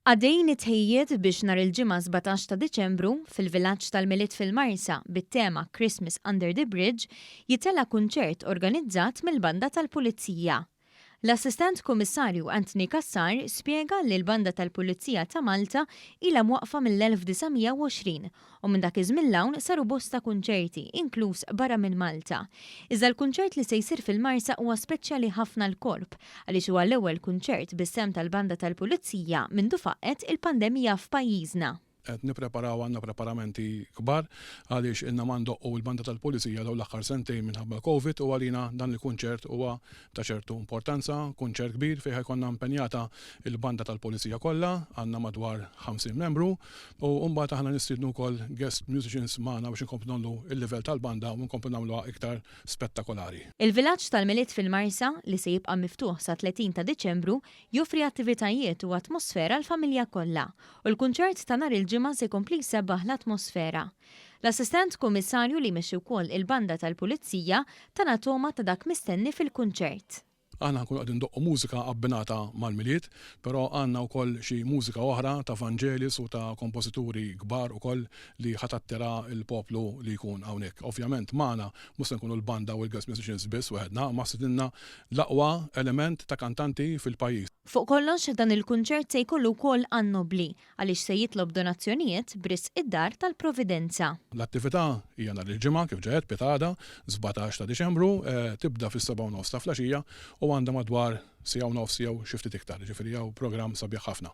Għaddejjin it-tħejjijiet biex nhar il-Ġimgħa 17 ta' Diċembru, fil-Vilaġġ tal-Milied fil-Marsa, bit-tema Christmas Under the Bridge, jitella' kunċert organizzat mill-Banda tal-Pulizija. L-Assistent Kummissarju Anthony Cassar spjega li l-Banda tal-Pulizija ta' Malta ilha mwaqqfa mill-1920 u minn dak iż-żmien 'l hawn saru bosta kunċerti, inkluż barra minn Malta. Iżda l-kunċert li se jsir fil-Marsa huwa speċjali ħafna għall-Korp għaliex huwa l-ewwel kunċert bis-sehem tal-Banda tal-Pulizija mindu faqqgħet il-pandemija f'pajjiżna. Qed nippreparaw għandna preparamenti kbar għaliex ilna ma ndoqqu l-Banda tal-Pulizija dawn l-aħħar sentejn minħabba l-Covid u għalina dan il-kunċert huwa ta' ċertu importanza, kunċert kbir fejn ħa jkollna impenjata l-banda tal-Pulizija kollha, għandna madwar 50 membru, u mbagħad aħna nistiednu wkoll guest musicians magħna biex inkomplu ngħollu l-livell tal-banda u nkomplu nagħmluha iktar spettakolari. Il-Vilaġġ tal-Milied fil-Marsa, li se jibqa' miftuħ sat-30 ta' Diċembru, joffri attivitajiet u atmosfera għall-familja kollha, u l-kunċert ta' nhar il-Ġimgħa se jkompli jsebbaħ l-atmosfera. L-Assistent Kummissarju li jmexxi wkoll il-Banda tal-Pulizija tana togħma ta' dak mistenni fil-kunċert. Aħna nkunu qegħdin ndoqqu mużika abbinata mal-Milied, però għandna wkoll xi mużika oħra ta' Vangelis u ta' kompożituri kbar ukoll li ħa tattira l-poplu li jkun hawnhekk. Ovvjament magħna mhux se nkunu l-Banda u l-Guest Musicians biss weħedna, imma stidinna l-aqwa element ta' kantanti fil-pajjiż. Fuq kollox, dan il-kunċert se jkollu wkoll għan-nobbli, Għaliex se jitlob donazzjonijiet b'risq id-Dar tal-Providenza. L-attività hija nhar il-Ġimgħa, kif ġa għedt, Piet Għada, sbatax ta' Diċembru, tibda fis-sebgħa u nofs ta' flgħaxija u għandha madwar siegħa u nofs jew xi ftit iktar, jiġifieri hawn programm sabiħ ħafna.